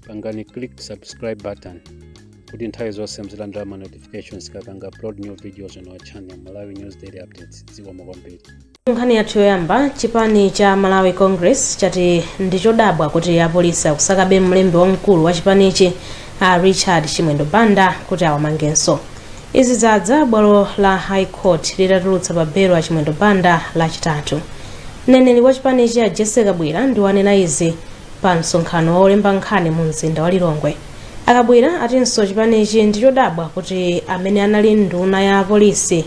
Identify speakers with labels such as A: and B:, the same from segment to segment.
A: pangani click subscribe button kuti nthawi zonse muzilandira ma notifications kapanga upload new videos on our channel malawi news daily updates zikomo kwambiri nkhani
B: yathu yoyamba chipani cha malawi congress chati ndi chodabwa kuti apolisi akusakabe mlembi wamkulu wa chipanichi a richard chimwendo banda kuti awamangenso Izi zadza bwalo la High Court litatulutsa pa belo a Chimwendo Banda lachitatu. Mneneri wa chipanichi a Jessie Kabwila ndi wanena izi pa msonkhano wa olemba nkhani mu mzinda wa Lilongwe. A Kabwila atinso chipanichi ndi chodabwa kuti amene anali nduna ya polisi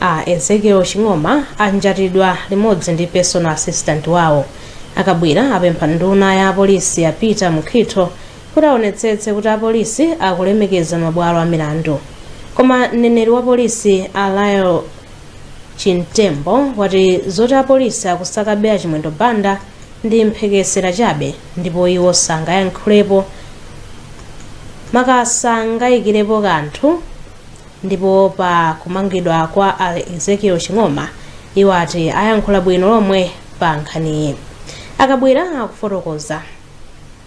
B: a Ezekiel Ching'oma anjatidwa limodzi ndi personal assistant wawo. A Kabwila apempha nduna ya polisi a Peter Mukhito kuti aonetsetse kuti apolisi akulemekeza mabwalo a milandu koma mneneri wa polisi a Lael Chimtembo wati zoti apolisi akusakabe a Chimwendo Banda ndi mphekesera chabe ndipo iwo sangayankhulepo maka sangayikirepo kanthu ndipo pa kumangidwa kwa a Ezekiel Ching'oma iwo ati ayankhula bwino lomwe pa nkhaniyi a Kabwila akufotokoza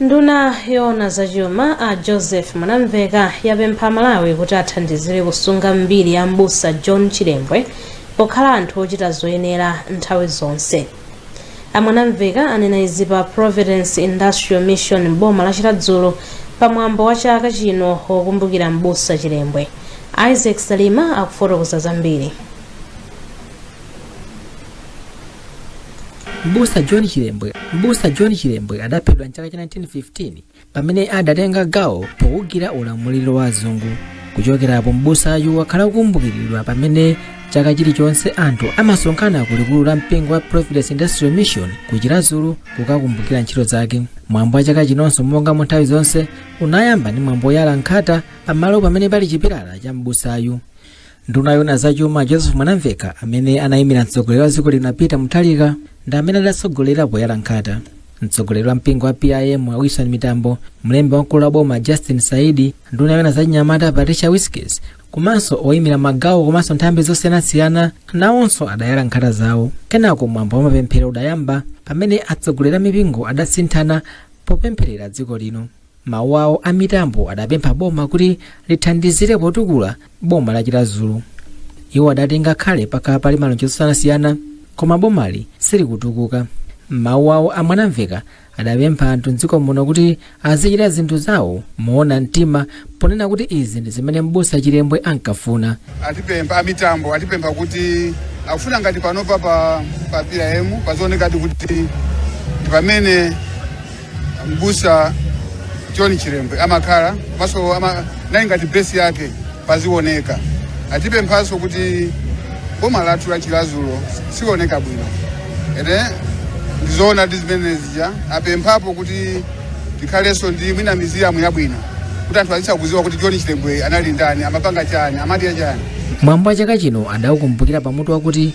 B: nduna yoona zachuma a joseph mwanamvekha yapempha amalawi kuti athandizire kusunga mbiri ya mbusa john chilembwe pokhala anthu ochita zoyenera nthawi zonse a mwanamvekha anena izi pa providence industrial mission m'boma la chiradzulu pa mwambo wa chaka chino wokumbukira m'busa chilembwe isaac salima akufotokoza
C: zambiri mbusa john chilembwe adaphedwa mchaka cha 1915 pamene adatenga gawo poukira ulamuliro wa azungu kuchokerapo m'busayu wakhala kukumbukiridwa pamene chaka chilichonse anthu amasonkhana ku likulu la mpingo wa providence industrial mission ku chiradzulu kukakumbukira ntchito zake mwambo wa chaka chinonso monga mu nthawi zonse unayamba ndi mwambo woyala nkhata pamalo pamene pali chipilala cha m'busayu nduna yona zachuma joseph mwanamvekha amene anayimira mtsogoleri wa dziko lino a peter mutharika ndi amene adatsogolera poyala nkhata mtsogoleri wa mpingo wa pim a wilson mitambo mlembi wamkulu wa boma justin saidi nduna yona zachinyamata patricia wiskes komanso oyimira magawo komanso nthambi zosiyanasiyana nawonso adayala nkhata zawo kenako mwambo wa mapemphero udayamba pamene atsogoleri a mipingo adasinthana popempherera dziko lino M'mawu awo a Mitambo adapempha boma kuti lithandizire potukula boma la Chiradzulu. Iwo adati ngakhale pakhala pali malonjezo osiyanasiyana koma bomali silikutukuka. M'mawu awo a Mwanamveka adapempha anthu m'dziko muno kuti azichita zinthu zawo moona mtima ponena kuti izi ndi zimene m'busa Chilembwe ankafuna.
D: atipempha amitambo atipempha kuti akufuna ngati panopa pa pa PIM pazioneka kuti ndi pamene mbusa john chilembwe amakhala komanso ama, nayi ngati besi yake pazioneka atipemphanso kuti boma lathu la chiradzulu sioneka bwino ete ndizoona ndi zimenezi ja apemphapo kuti tikhalenso ndi mwina miziyamu yabwino kuti anthu azitha kuziwa kuti john chilembwe anali ndani amapanga chani amadya chani mwambo wa chaka
C: chino adaukumbukira pamutu wakuti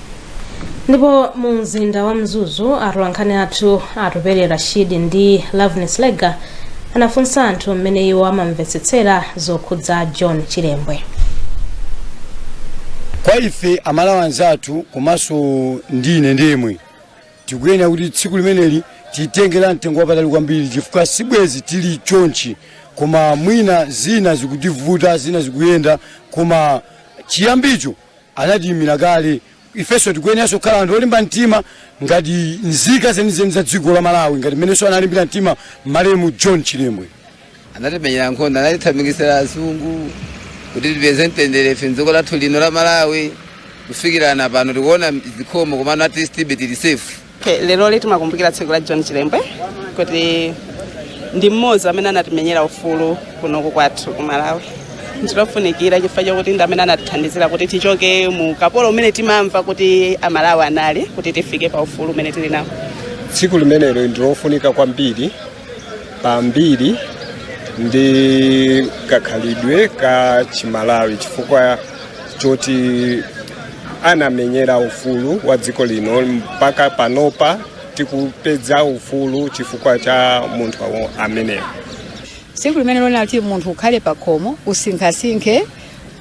B: ndipo mu mzinda wa mzuzu atolankhani athu atupele rashid ndi loveness lega anafunsa anthu mmene iwo amamvetsetsera zokhudza john chilembwe
E: kwa ife amalawi anzathu komanso ndi ine ndemwe tikuyenera kuti tsiku limeneli titengera mtengo wapatali kwambiri chifukwa sibwezi tili chonchi koma mwina zina zikutivuta zina zikuyenda koma chiyambicho anatiyimira kale ifenso tikuyeneranso kukhala anthu olimba mtima ngati nzika zenizeni za dziko la malawi ngati mmenenso analimbira mtima malemu john chilembwe
F: anatimenyera nkhondo anatithamangitsira azungu kuti tipeze mtendere ife mdziko lathu lino la malawi kufikirana pano tikuona zikhomo komano at least be tili safe Leroli
G: timakumbukira tsiku la John Chilembwe kuti ndi mmodzi amene anatimenyera ufulu kunoku kwathu ku Malawi. Ndilofunikira chifukwa chokuti ndi amene anatithandizira kuti tichoke mu ukapolo umene timamva kuti Amalawi anali kuti tifike pa ufulu umene tili nawo. tsiku
H: limenelo ndilofunika kwambiri pambiri ndi kakhalidwe ka chimalawi chifukwa choti anamenyera ufulu wa dziko lino mpaka panopa tikupeza ufulu chifukwa cha munthu awo- ameneyo tsiku
I: limenelo nkuti munthu ukhale pakhomo usinkhasinkhe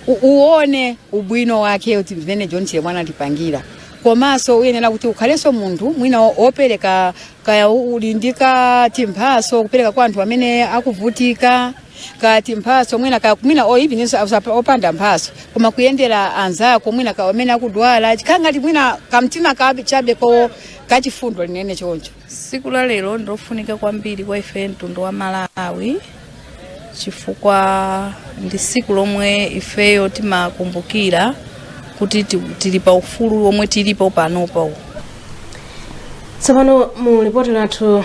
I: u- uone ubwino wake kuti zimene john chilembwe anatipangira komanso uyenera kuti ukhalenso munthu mwina wo- wopereka kaya u- uli ndi katimphaso kupereka kwa anthu amene akuvutika katimphatso mwina kaya mwina or evenso apa- opanda mphatso koma kuyendera anzako mwina ka amene akudwala chikhala ngati mwina kamtima kabe chabe ko kachifundo linene choncho Siku la lero
J: ndilofunika kwambiri kwa ife mtundu wa Malawi chifukwa ndi siku lomwe ifeyo timakumbukira kuti ti- tili pa ufulu omwe tilipo panopa. tsopano
B: mu lipoti lathu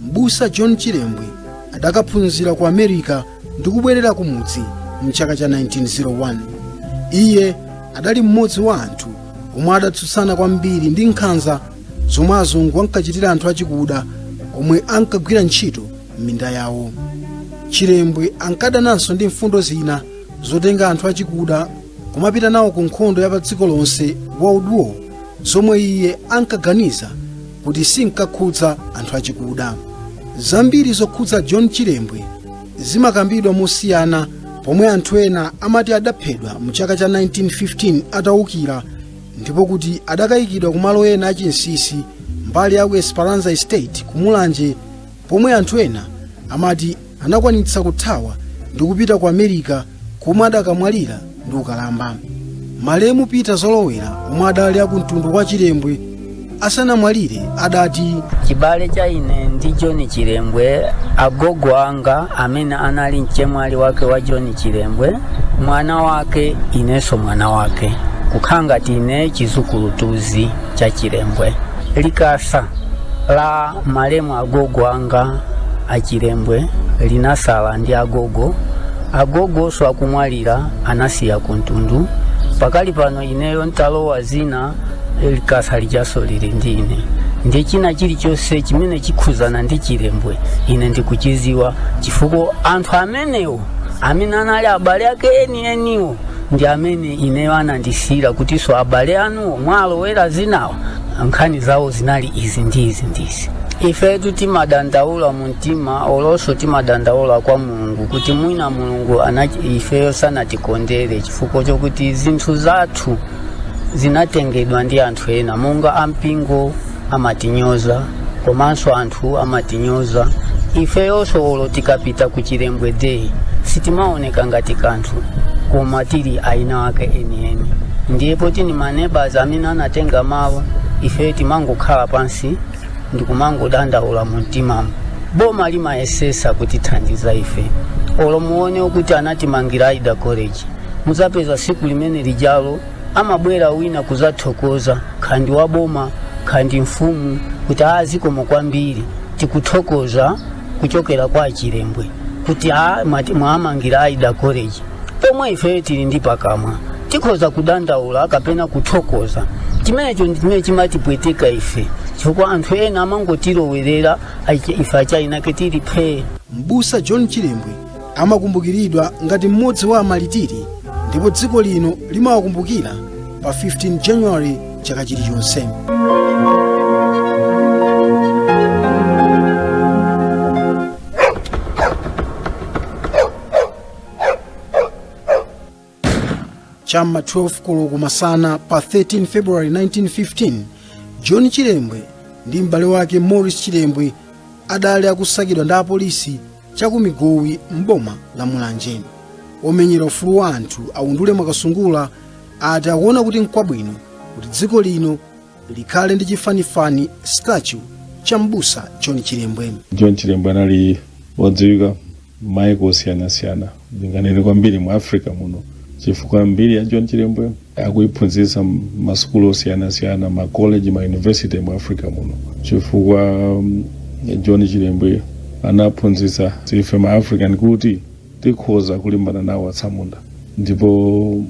K: M'busa John Chilembwe adakaphunzira ku America ndi kubwerera kumudzi mchaka cha 1901. Iye adali mmodzi wa anthu omwe adatsutsana kwambiri ndi nkhanza zomwe azungu ankachitira anthu achikuda omwe ankagwira ntchito m'minda yawo. Chilembwe ankadananso ndi mfundo zina zotenga anthu achikuda kumapita nawo ku nkhondo ya padziko lonse World War zomwe iye ankaganiza kuti sinkakhudza anthu achikuda zambiri zokhudza john chilembwe zimakambidwa mosiyana pomwe anthu ena amati adaphedwa mu chaka cha 1915 atawukira ndipo kuti adakayikidwa ku malo ena achinsinsi mbali ya esperanza estate ku mulanje pomwe anthu ena amati anakwanitsa kuthawa ndi kupita ku america komwe adakamwalira ndi ukalamba malemu peter zolowera omwe adali akumtundu kwa chilembwe asanamwalire adati chibale cha
L: ine ndi john chilembwe agogo anga amene anali mchemwali wake wa john chilembwe mwana wake inenso mwana wake kukhala ngati ine chizukulutuzi cha chilembwe likasa la malemu agogo anga achilembwe linasala ndi agogo agogonso akumwalira anasiya kumtundu pakali pano ineyo ntalowa zina likasa lijanso lili ndi ine ndi china chilichonse chimene chikukhuzana ndi chilembwe ine ndikuchiziwa chifukwa anthu amenewo amene anali abale ake enieniwo ndi amene ineyo anandisiyira kutinso abale anuwo mwalowera zinawo nkhani zawo zinali izi ndi izi ndi izi ifetu timadandaula mu mtima olonso timadandaula kwa mulungu kuti mwina mulungu a ifeyo sanatikondere chifukwa chokuti zinthu zathu zinatengedwa ndi anthu ena monga ampingo amatinyoza komanso anthu amatinyoza ifeyonso olo tikapita ku chilembwe day sitimaoneka ngati kanthu koma tili aina ake enieni ndiye poti ni maneba amene anatenga mawu ifeyo timangokhala pansi ndikumangodandaula mu mtimamu boma limayesesa kutithandiza ife olo muone kuti anatimangira ida college muzapeza siku limene lijalo amabwera wina kuzathokoza khandi wa boma khandi mfumu kuti a zikomo kwambiri tikuthokoza kuchokera kwa achilembwe kuti a mwamangira ida college pomwe ifeyo tili ndi pakamwa tikhoza kudandaula kapena kuthokoza chimenecho ndi chimene chimatipweteka ife chifukwa anthu ena amangotilowerera ife achainake tili phee m'busa john
K: chilembwe amakumbukiridwa ngati mmodzi wa amalitiri ndipo dziko lino limawakumbukira pa 15 january chaka chilichonse cha m'ma 12 koloko masana pa 13 february 1915 john chilembwe ndi m'bale wake morris chilembwe adali akusakidwa ndi apolisi chakumigowi m'boma la mulanje omenyera ufulu wa anthu Undule mwakasungula ati akuona kuti nkwabwino kuti dziko lino likhale ndi chifanifani statue cha m'busa john chilembwe john chilembwe
M: anali wodziwika maiko osiyanasiyana ndinganene kwambiri mu africa muno chifukwa mbiri ya john chilembwe akuiphunzitsa masukulu osiyanasiyana makoleji ma university mu africa muno chifukwa um, john chilembwe anaphunzitsa ife ma african kuti tikhoza kulimbana nawo atsamunda ndipo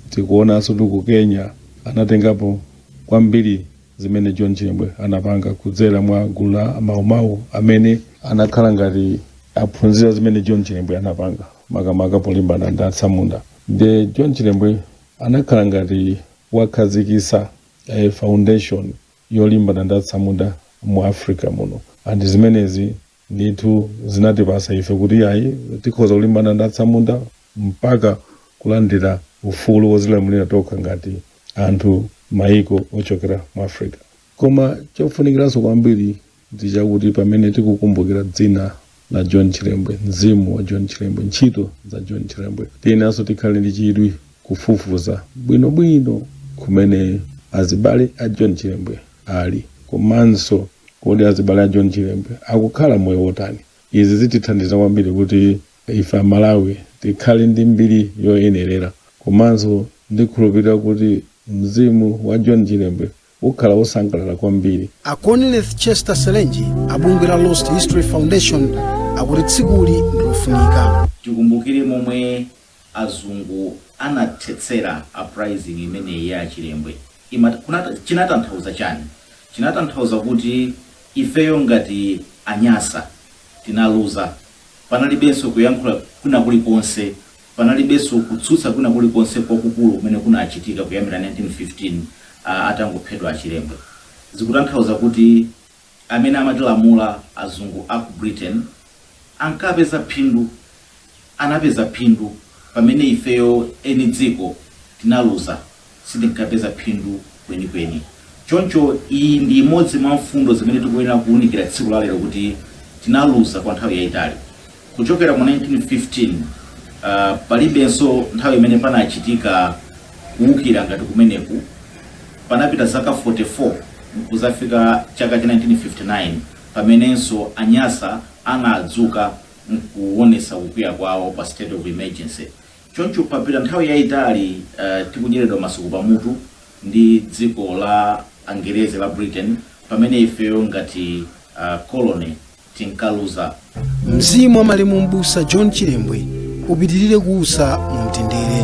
M: tikuonanso kuti ku kenya anatengapo kwambiri zimene John Chilembwe anapanga kudzera mwa gulu la Maumau amene anakhala ngati aphunzira zimene John Chilembwe anapanga makamaka polimbana ndi atsamunda nde John Chilembwe anakhala ngati wakhazikisa eh, foundation yolimbana ndi atsamunda mu Africa muno and zimenezi ndithu zinatipasa ife kuti ayi tikhoza kulimbana ndi atsamunda mpaka kulandira ufulu wozilamulira tokha ngati anthu maiko ochokera mu africa koma chofunikiranso kwambiri ndi chakuti pamene tikukumbukira dzina la john chilembwe mzimu wa john chilembwe ntchito za john chilembwe tiyenanso tikhale ndi chidwi kufufuza bwinobwino kumene azibale a john chilembwe ali komanso Kodi azibale a John Chilembwe akukhala moyo wotani? Izi zitithandiza kwambiri kuti ife aMalawi tikhale ndi mbiri yoyenerera. Komanso ndikhulupirira kuti mzimu wa John Chilembwe ukhala wosangalala kwambiri. A
K: Conleith Chester Selenje a bungwe la Lost History Foundation akuti tsikuli ndilofunika. Tikumbukire
N: momwe azungu anathetsera uprising imeneyi ya a Chilembwe ima, kunata, chinatanthauza chani? Chinatanthauza kuti ifeyo ngati anyasa tinaluza, panalibenso kuyankhula kwina kulikonse, panalibenso kutsutsa kwina kulikonse kwakukulu kumene kunachitika kuyambira 1915 atangophedwa a Chilembwe. Zikutanthauza kuti. Amene amatilamula azungu a ku Britain ankapeza phindu, anapeza phindu pamene ifeyo eni dziko tinaluza, sitinkapeza phindu kwenikweni. Choncho iyi ndi imodzi mwa mfundo zimene tikuyenera kuunikira tsiku la lero kuti tinaluza kwa nthawi yaitali. Kuchokera mu 1915 ah, palibenso nthawi imene panachitika kuwukira ngati kumeneku. Panapita zaka 44 nkuzafika chaka cha 1959 pamenenso Anyasa anadzuka nkuwonesa kukwiya kwawo pa state of emergency. Choncho papita nthawi yayitali ah, tikudyeredwa masuku pamutu ndi dziko la Angerezi la Britain pamene ifeyo ngati ah, colony tinkaluza.
K: Mzimu wa malemu m'busa John Chilembwe upitirire kuusa mu
B: mtendere.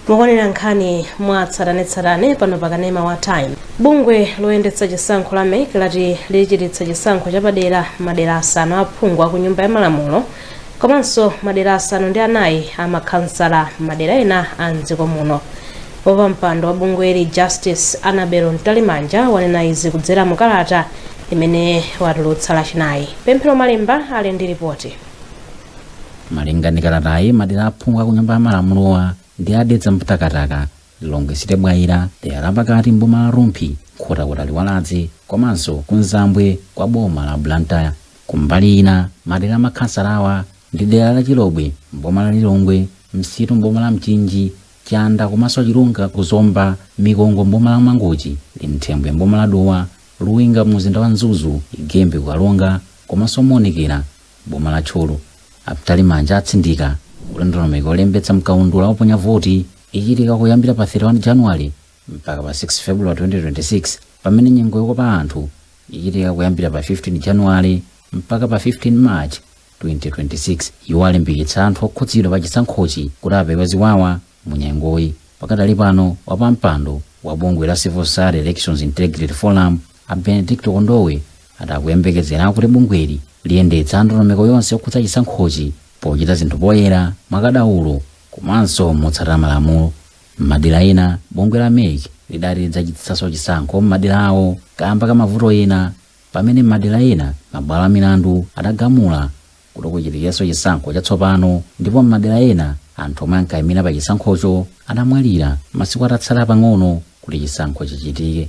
B: mukuonera nkhani mwa tsatanetsatane pano pa kanema wa time bungwe loyendetsa chisankho la mec lati lichititsa chisankho chapadera m'madera asanu aphungu akunyumba ya malamulo komanso madera asanu ndi anayi a makhansala m'madera ena a mdziko muno wapampando wa bungweli justice annabel mtalimanja wanena izi kudzera mu kalata imene watulutsa lachinayi pemphero malemba ali ndi
O: ripoti malinga ndi kalatayi madera aphungu a kunyumba ya malamulowa ndi a dedza mtakataka lilongwe city bwaila dera lapakati mboma la rumphi nkhotakota liwaladzi komanso kuzambwe kwa boma la blantyre Kumbali ina, madera a makhansalawa ndi dera la Chilobwe m'boma la Lilongwe, Msitu m'boma la Mchinji, Chanda komanso Chilunga ku Zomba, Mikongo m'boma la Mangochi, Linthembwe m'boma la Dowa, Luwinga mu mzinda wa Mzuzu, Ighembe ku Karonga komanso Muonekera m'boma la Thyolo. A Mtalimanja atsindika kuti ndondomeko yolembetsa m'kaundula woponya voti ichitika kuyambira pa 31 January mpaka pa 6 February 2026 pamene nyengo yokopa anthu ichitika kuyambira pa 15 January mpaka pa 15 March 2026. Iwo alimbikitsa anthu okhudzidwa pa chisankhochi kuti apewe ziwawa mu nyengoyi. Pakadali pano wapampando wa bungwe la Civil Society Elections Integrity Forum a Benedicto Kondowe ati akuyembekezera kuti bungweli liyendetsa ndondomeko yonse yokhudza chisankhochi pochita zinthu poyera, mwakadaulo komanso motsatira malamulo. M'madera ena, bungwe la mec lidati lidzachititsanso chisankho m'maderawo kaamba ka mavuto ena pamene m'madera ena mabwalo a milandu adagamula kuti kuchitikenso chisankho chatsopano ndipo m'madera ena anthu omwe ankaimira pa chisankhocho adamwalira masiku atatsala pang'ono kuti chisankho chichitike.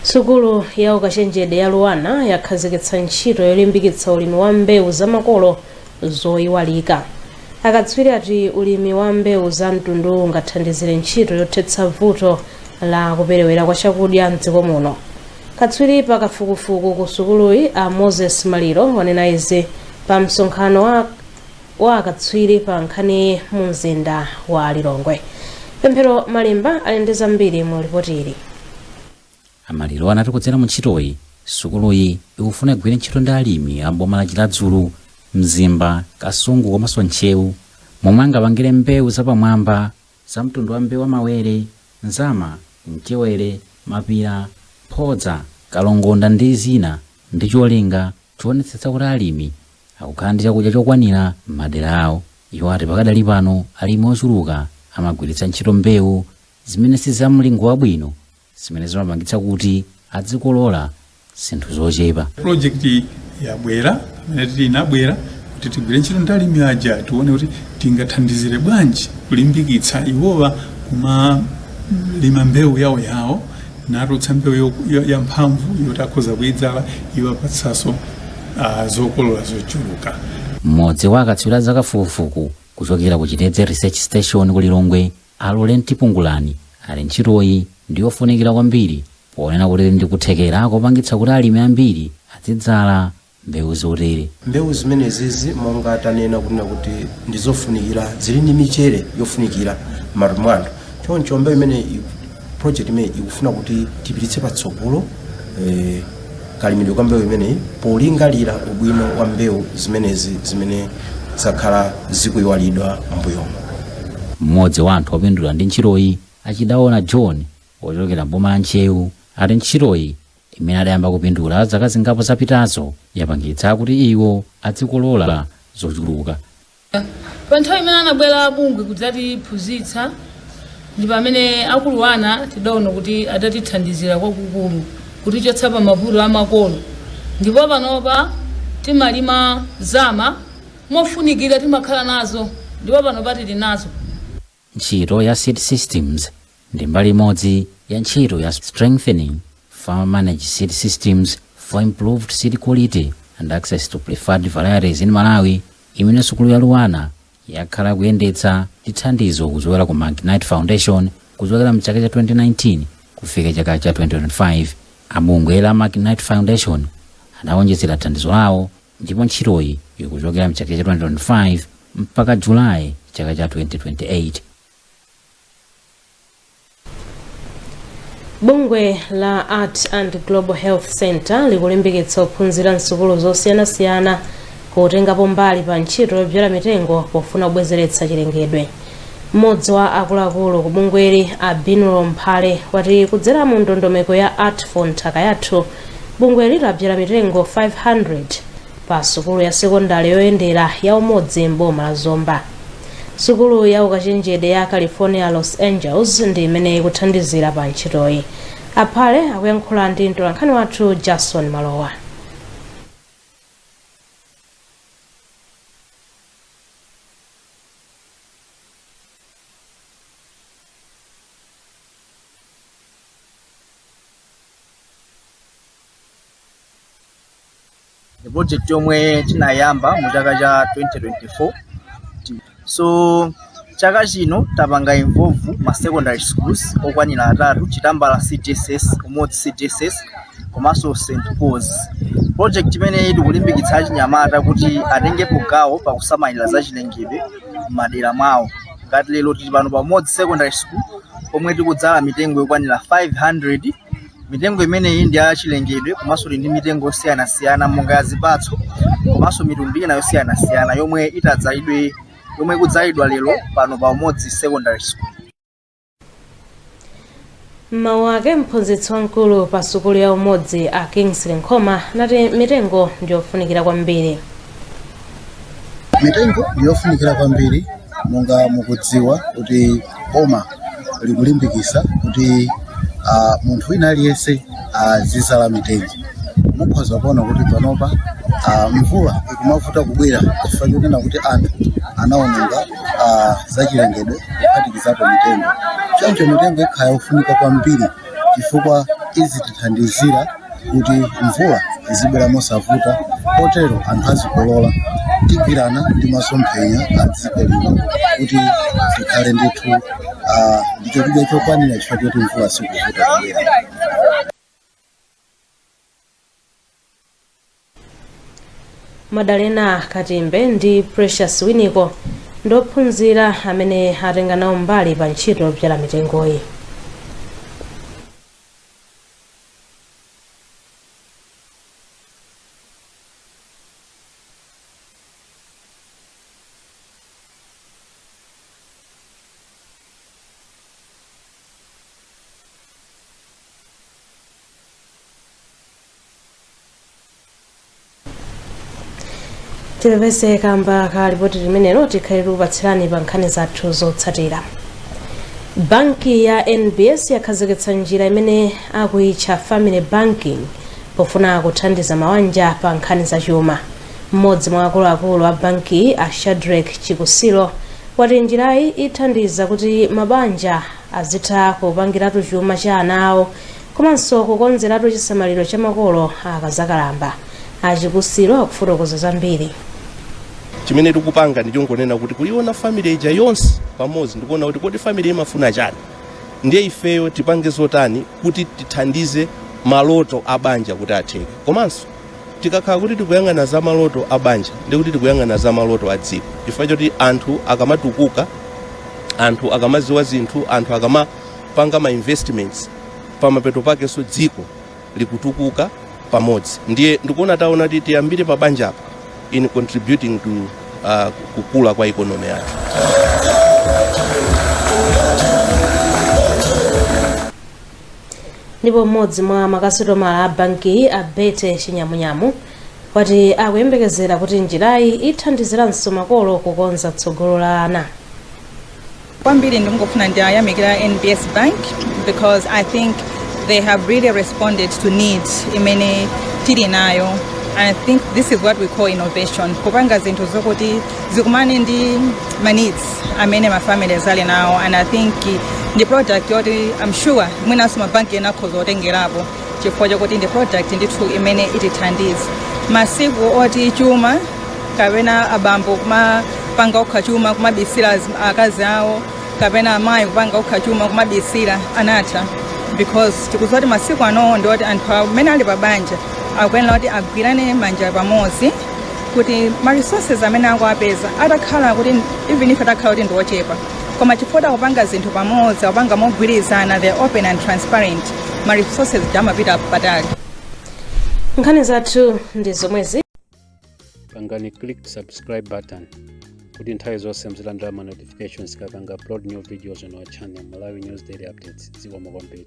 B: sukulu ya ukachenjede ya luanar yakhazikitsa ntchito yolimbikitsa ulimi wa mbewu za makolo zoyiwalika akatswiri ati ulimi wa mbewu za mtunduwu ungathandizire ntchito yothetsa vuto la kuperewera kwa chakudya mdziko muno katswiri pa kafukufuku ku sukuluyi a moses maliro wanena izi pa msonkhano wa wa akatswiri pa nkhaniyi mu mzinda wa lilongwe pemphero malimba ali ndi zambiri mu lipoti
O: ili a maliro anati kudzera mu ntchitoyi sukuluyi ikufuna igwire ntchito ndi alimi a m'boma la chiradzulu mzimba kasungu komanso ntcheu momwe angapangire mbewu zapamwamba za mtundu wa mbewu wa mawere nzama mchewere mapira mphodza kalongonda ndi zina ndi cholinga choonetsetsa kuti alimi akukhala ndi chakudya chokwanira m'madera awo. Iwo ati pakadali pano alimi ochuluka amagwiritsa ntchito mbewu zimene si za mlingo wabwino zimene zimapangitsa kuti adzikolola zinthu zochepa. Project iyi
P: yabwera pamene tili inabwera kuti tigwire ntchito ndi alimi aja tione kuti tingathandizire bwanji kulimbikitsa iwowa kumalima mbewu yawo yawo natulutsa mbewu yo- yo- yamphamvu yoti akhoza kuidzala iwapatsanso uh, zokolola zochuluka mmodzi wa
O: akatswiri a zakafukufuku kuchokera ku chitedze research station ku lilongwe a lawrent pungulani ati ntchitoyi ndi yofunikira kwambiri ponena kuti ndi kuthekera kopangitsa kuti alimi ambiri azidzala mbewu zotere. Mbewu
Q: zimenezizi monga tanena kunena kuti ndizofunikira zili ndi michere yofunikira m'matupi mwa anthu choncho mbewu imene i- project imene ikufuna kuti tipititse patsogolo eh, kalimidwe ka mbewu imeneyi polingalira ubwino wa mbewu zimenezi zimene zakhala zikuyiwalidwa m'mbuyomo mmodzi
O: wa anthu opindula ndi ntchitoyi a chidaona john ochokera mboma la ntcheu ati ntchitoyi imene adayamba kupindula zaka zingapo zapitazo yapangitsa kuti iwo adzikolola
R: zochuluka. Pa nthawi imene anabwera abungwe kudzatiphunzitsa ndi pamene aku Luanar tidaona kuti adatithandizira kwakukulu kutichotsa pa mavuto amakolo ndipo panopa timalima nzama mofunikira timakhala nazo ndipo panopa tili nazo.
O: Ntchito ya seed systems ndi mbali imodzi ya ntchito ya strengthening farmer managed seed systems for improved seed quality and access to preferred varieties in Malawi imene sukulu ya Luanar yakhala ikuyendetsa ndi thandizo kuchokera ku McKnight Foundation kuchokera mchaka cha 2019 kufika chaka cha 2025. Abungwe la McKnight Foundation adawonjezera thandizo lawo ndipo ntchitoyi ikuchokera mchaka cha 2025 mpaka July chaka cha 2028.
B: Bungwe la Art and Global Health Center likulimbikitsa ophunzira msukulu zosiyanasiyana kutengapo mbali pa ntchito yobzala mitengo pofuna kubwezeretsa chilengedwe. Mmodzi wa akuluakulu ku bungweli a Binwell Mphale wati kudzera mu ndondomeko ya Art for Nthaka Yathu, bungweli labyala mitengo 500 pa sukulu ya sekondale yoyendera ya Umodzi m'boma la Zomba. Sukulu ya ukachenjede ya California Los Angeles ndi imene ikuthandizira pa ntchitoyi. A Phale akuyankhula ndi mtolankhani wathu Jason Malowa.
S: ndi project yomwe tinayamba mu chaka cha 2024 so chaka chino tapanga involve ma secondary schools okwanira atatu chitambala cdss umodzi cdss komanso St Paul's. Project imeneyi tikulimbikitsa achinyamata kuti atengepo gawo pakusamalira za chilengedwe m'madera mwawo. Ngati lero tili pano pa Umodzi Secondary School pomwe tikudzala mitengo yokwanira 500 mitengo imeneyi ndi ya chilengedwe komanso ndi mitengo yosiyanasiyana monga ya zipatso komanso mitundu ina yosiyanasiyana yomwe itadzalidwe yomwe ikudzalidwa lero pano pa Umodzi Secondary School.
B: mmawu ake mphunzitsi wamkulu pa sukulu ya umodzi a kingsley nkhoma anati mitengo ndiyofunikira kwambiri
K: mitengo ndiyofunikira kwambiri monga mukudziwa kuti boma likulimbikisa kuti uh, munthu wina aliyense
T: azizala mitengo mukhoza kuona kuti panopa uh, mvula ikumavuta kubwera chifukwa chonena kuti anthu anaononga ah, zachilengedwe kuphatikizapo mitengo choncho mitengo ikhala yofunika kwambiri chifukwa izitithandizira kuti mvula izibwera mosavuta potero anthu azikolola tigwirana ndi masomphenya a dziko lino kuti tikhale ndithu ah, ndi chakudya chokwanira chifukwa choti mvula sikuvuta kubwera
B: madalena katimbe ndi precious winiko ndi ophunzira amene atenga nawo mbali pa ntchito yobzala mitengoyi tipepese kamba ka lipoti limenelo tikhale tikupatsirani pa nkhani zathu zotsatira banki ya nbs yakhazikitsa njira imene akuyitcha family banking pofuna kuthandiza mawanja pa nkhani zachuma mmodzi mwa akuluakulu a bankiyi a shadrek chikusiro wati njirayi ithandiza kuti mabanja azitha kupangiratu chuma cha ana awo komanso kukonzeratu chisamaliro cha makolo akazakalamba. A Chikusiro akufotokoza
U: zambiri. chimene tikupanga ndichongonena kuti kuliona family ija yonse pamodzi ndikuona kuti kodi family imafuna chani ndiye ifeyo tipange zotani kuti tithandize maloto a banja kuti atheke komanso tikakhala kuti tikuyang'ana za maloto a banja ndi kuti tikuyang'ana za maloto a dziko chifukwa choti anthu akamatukuka anthu akamaziwa zinthu anthu akama panga ma investments pamapeto pakenso dziko likutukuka pamodzi ndiye ndikuona taona kuti tiyambire pa banja apa in contributing to uh, kukula kwa economy yathu
B: ndipo mmodzi mwa makasitomala a bankiyi a betty chinyamunyamu wati akuyembekezera kuti njirayi ithandiziranso makolo kukonza tsogolo la ana
V: Kwambiri ndimangofuna ndiyamikire NBS Bank because I think they have really responded to needs imene tili nayo and I think this is what we call innovation kupanga zinthu zokuti zikumane ndi ma needs amene ma families ali nawo and I think ndi product yoti I'm sure mwinanso mabanki ena akhoza kutengerapo chifukwa chokuti ndi product ndithu imene itithandize masiku oti chuma kapena abambo kumapanga okha chuma kumabisira akazi awo kapena amayi kupanga okha chuma kumabisira anatha because tikuziwa kuti masiku ano ndi oti anthu amene ali pabanja akuyenera kuti agwirane manja pamodzi kuti ma resources amene akuwapeza atakhala kuti even if atakhala kuti ndi ochepa koma chifukwa akupanga zinthu pamodzi akupanga mogwirizana they are open and transparent ma resources amapita patali
B: nkhani zathu ndi zomwezi
A: pangani click subscribe button kuti nthawi zonse muzilandira ma notifications tikapanga upload new videos on our channel malawi news daily updates zikomo kwambiri